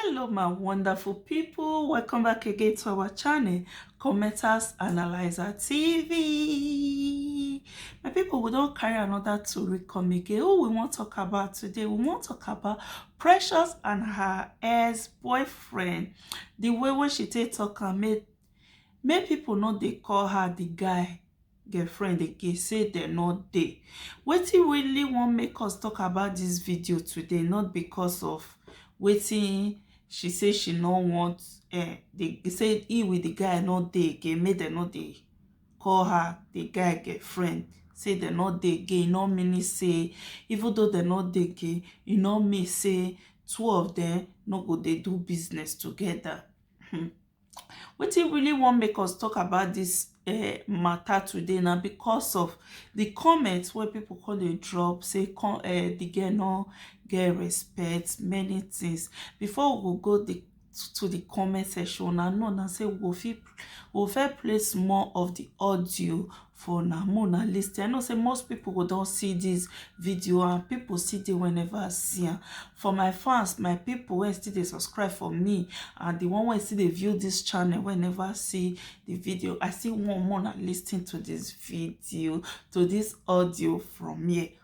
hello my wonderful people welcome back again to our channel commenters analyzer tv my people we don't carry another to come again who we want to talk about today we want to talk about precious and her ex-boyfriend the way when she take talk and make make people know they call her the guy girlfriend again say dem no dey wetin really wan make us talk about this video today not because of wetin she say she no want eh the say he with the guy no dey again make dem no dey call her the guy girlfriend say dem no dey again e no mean say even though dem no dey again e no mean say two of them no go dey do business together hmm. Wetin really wan make us talk about this um matter today na because of the comment wey people come dey drop say con um the girl no get respect many things before we go go the to the comment section una know na say we go fit we go first play small of the audio for una more na listen i know say most people go don see this video and people see dey whenever i see am for my fans my people wey still dey subscribe for me and the one wey still dey view this channel whenever i see the video i still want more na listen to this video to this audio from here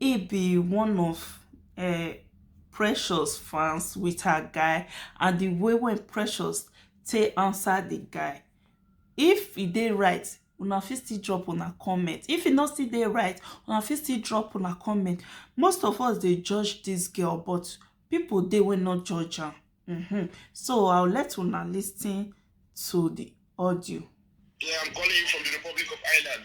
e be one of um precious fans with her guy and the way wey precious take answer the guy if e dey right una fit still drop una comment if e no still dey right una fit still drop una comment most of us dey judge this girl but people dey wey no judge am mm -hmm. so i'll let una listen to the audio yeah i'm calling you from the republic of ireland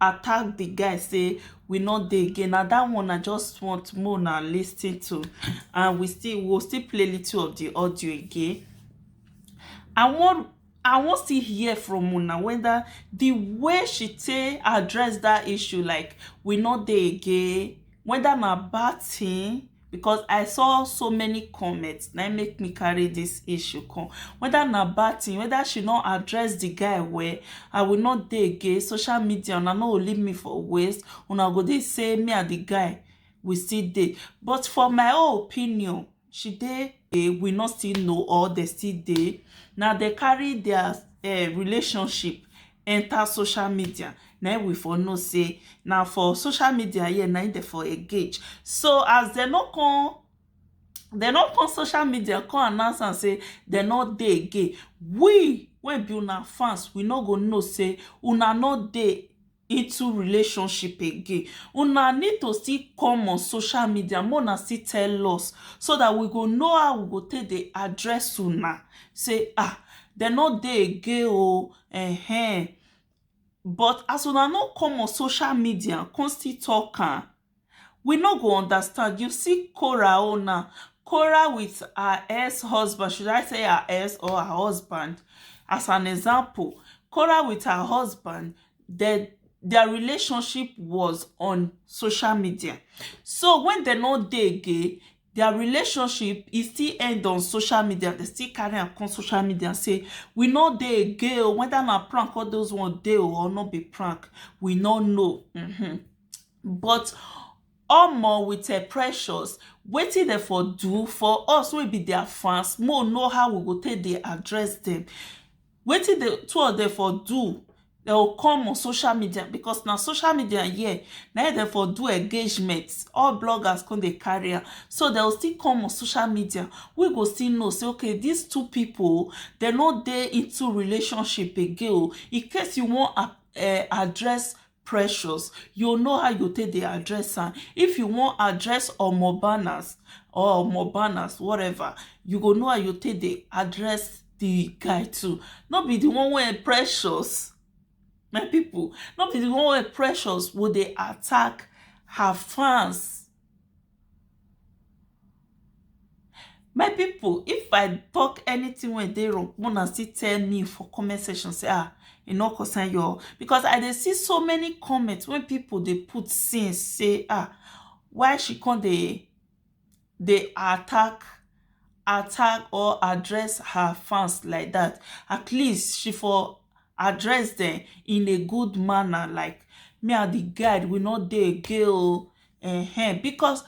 attack the guy say we no dey again na that one i just want make una lis ten to and we still we go still play little of the audio again i wan i wan still hear from una whether the way she take address that issue like we no dey again whether na bad thing because I saw so many comments na make me carry this issue come whether na bad thing whether she no address the guy well I will not dey again social media una no go leave me for waste una go dey say me and the guy we still dey but for my own opinion she dey eh, we no still know or they still dey na they carry their uh, relationship enter social media na im we for know sey na for social media here na im dem for engage so as dem no come dem no come social media come announce am sey dem no dey again we wey be una fans we no go know sey una no dey into relationship again una need to still come on social media make una still tell us so that we go know how we go take dey address una sey ah dem no dey again oo Ehen, but as una no come on social media come still talk am, we no go understand, you see Korah own now, Korah with her ex husband, should I say her ex or her husband as an example, Korah with her husband dem their relationship was on social media so when dem no dey again dia relationship e still end on social media dem still carry am come social media say we no dey again o whether na prank all those one dey o or no be prank we no know mm-hmm. but omo with her precious wetin dem for do for us wey be their fans mo know how we go take dey address them Wetin the two of dem for do, dey go come on social media because na social media here na im dem for do engagement, all bloggers come dey carry am, so dey go still come on social media, we go still know sey okay dis two people o, dey no dey into relationship again o, in case you wan um address precious you know how you take dey address am if you wan address omo banners or omo banners whatever you go know how you take dey address the guy too no be the one wey precious my people no be the one wey precious go dey attack her fans My people, if I talk anything when they wrong, wanna still tell me for comment section, say, ah, you know, concern your, because I dey see so many comments when people they put since, say, ah, why she can't they, they attack, attack or address her fans like that. At least she for address them in a good manner, like, me and the guide, we not dey gay, oh. um because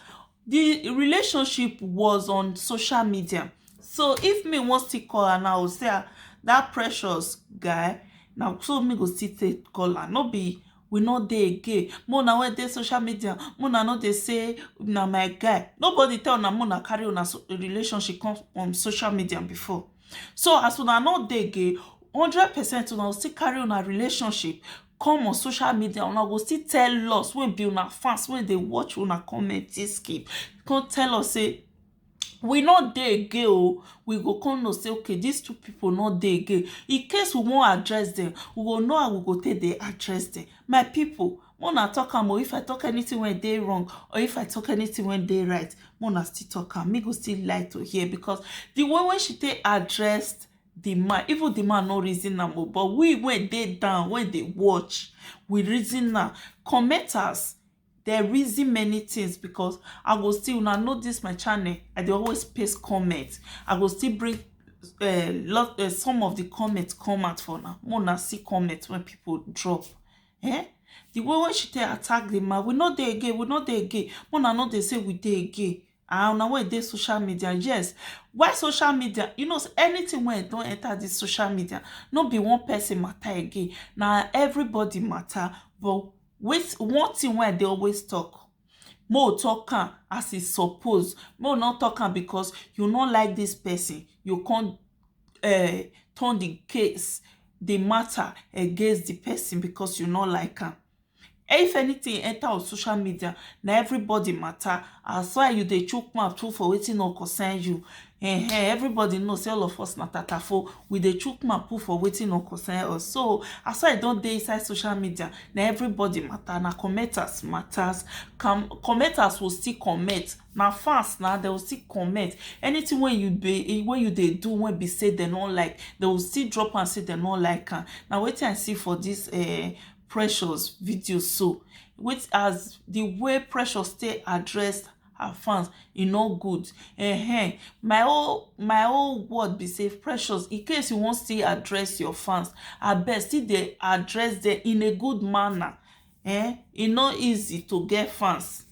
the relationship was on social media so if me wan still call her now i go say ah that precious guy na so me go still take call am no be we no dey again make una wey dey social media make una no dey say na my guy nobody tell una make una carry una relationship come on social media before So as una no dey again hundred percent una go still carry una relationship come on social media una go still tell us wey be una fans wey dey watch una comment this game come tell us say we no dey again o we go come know say okay these two people no dey again in case we wan address them we go know how we go take dey address them my people Make una talk am o. If I talk anything when dey wrong or if I talk anything when dey right, make una still talk am. Me go still like to hear because the way when she take addressed the man, even the man no reason am o, but we when dey down, when dey watch, we reason am. Commenters, they reason many things because I go still, una know this my channel, I dey always paste comment. I go still bring uh, lot, uh, some of the comments come out for now. Make una see comment when people drop. eh the way wey she take attack the man we no dey again we no dey again una no dey say we dey again and una wey dey social media yes why social media you know say anything wey don enter this social media no be one person matter again na everybody matter but with one thing wey i dey always talk mo talk am as e suppose mo no talk am because you no like this person you come um turn di case di mata against di pesin becos you no like am if anytin enta ur social media na evribodi mata as why you dey chook mouth put for wetin no concern you um evribodi know say all of us na tatafo we dey chook mouth put for wetin no concern us so as why i don dey inside social media na evribodi mata na commenters matas commenters will still comment na fans na they will still comment anything wey you be wey you dey do wey be say they no like they will still drop and say they no like am na wetin i see for this uh, precious video so with as the way precious stay address her fans e no good uh-huh. my whole my whole word be say precious in case you wan still address your fans abeg still dey address them in a good manner eh e no easy to get fans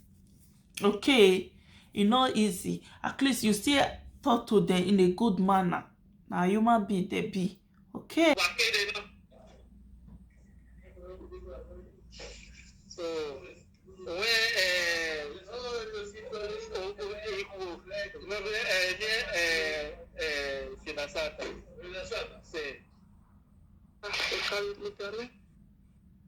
okay e no easy at least you still talk to them in a good manner na human being they be okay So when uh, Sinasata, say,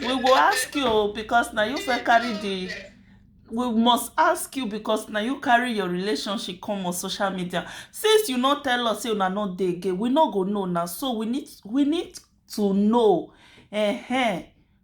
we go ask you o because na you first carry the we must ask you because na you carry your relationship come on social media since you no tell us say una no dey again we no go know na so we need we need to know eh eh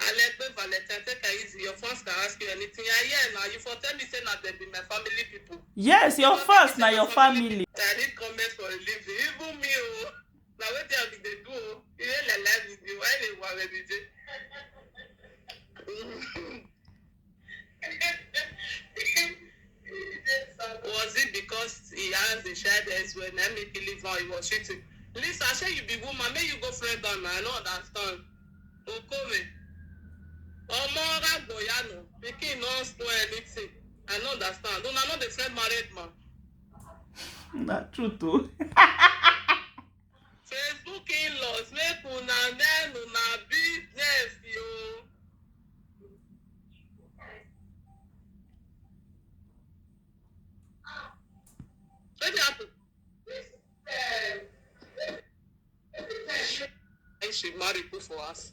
Alegbe Valentine take am easy your fans can ask you anything I hear na you for tell me say na dem be my family people. Yes your Una fans na your family. I need comments for a living even me o na wetin I bin dey do o you dey like live video why you dey ware me dey. Was it because he has a child elsewhere na make he leave her? He was cheating. Lisa, shey you be woman, make you go friend am na. I no understand. Okome. Omo Ragboyano, pikin no spoil anything. I no understand. Una no dey friend married man. na truth o. Facebook in-laws make una learn una business o. Wetin happen? She marry put for house.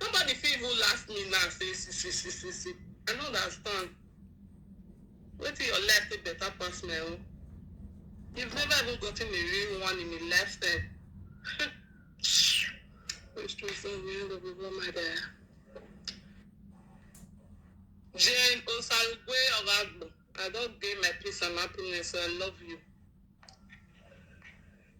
Nobody fit even laugh me now say si si si si si. I no understand. Wetin your life take better pass my own? You've never even gotten a real one in a lifetime. Which true friend we end up with one my dear. Jane Osarugwe of Agbo, I don gain my peace and happiness, so I love you.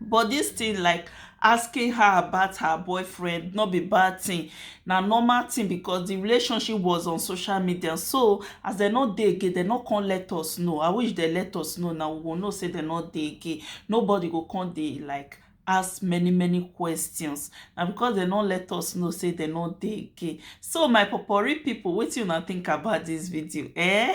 But this thing like asking her about her boyfriend not be bad thing na normal thing because the relationship was on social media so as they not dey again they not come let us know i wish they let us know now we will know say they not dey again nobody go come dey like ask many many questions na because they not let us know say they not dey again so my popori people wetin una think about this video eh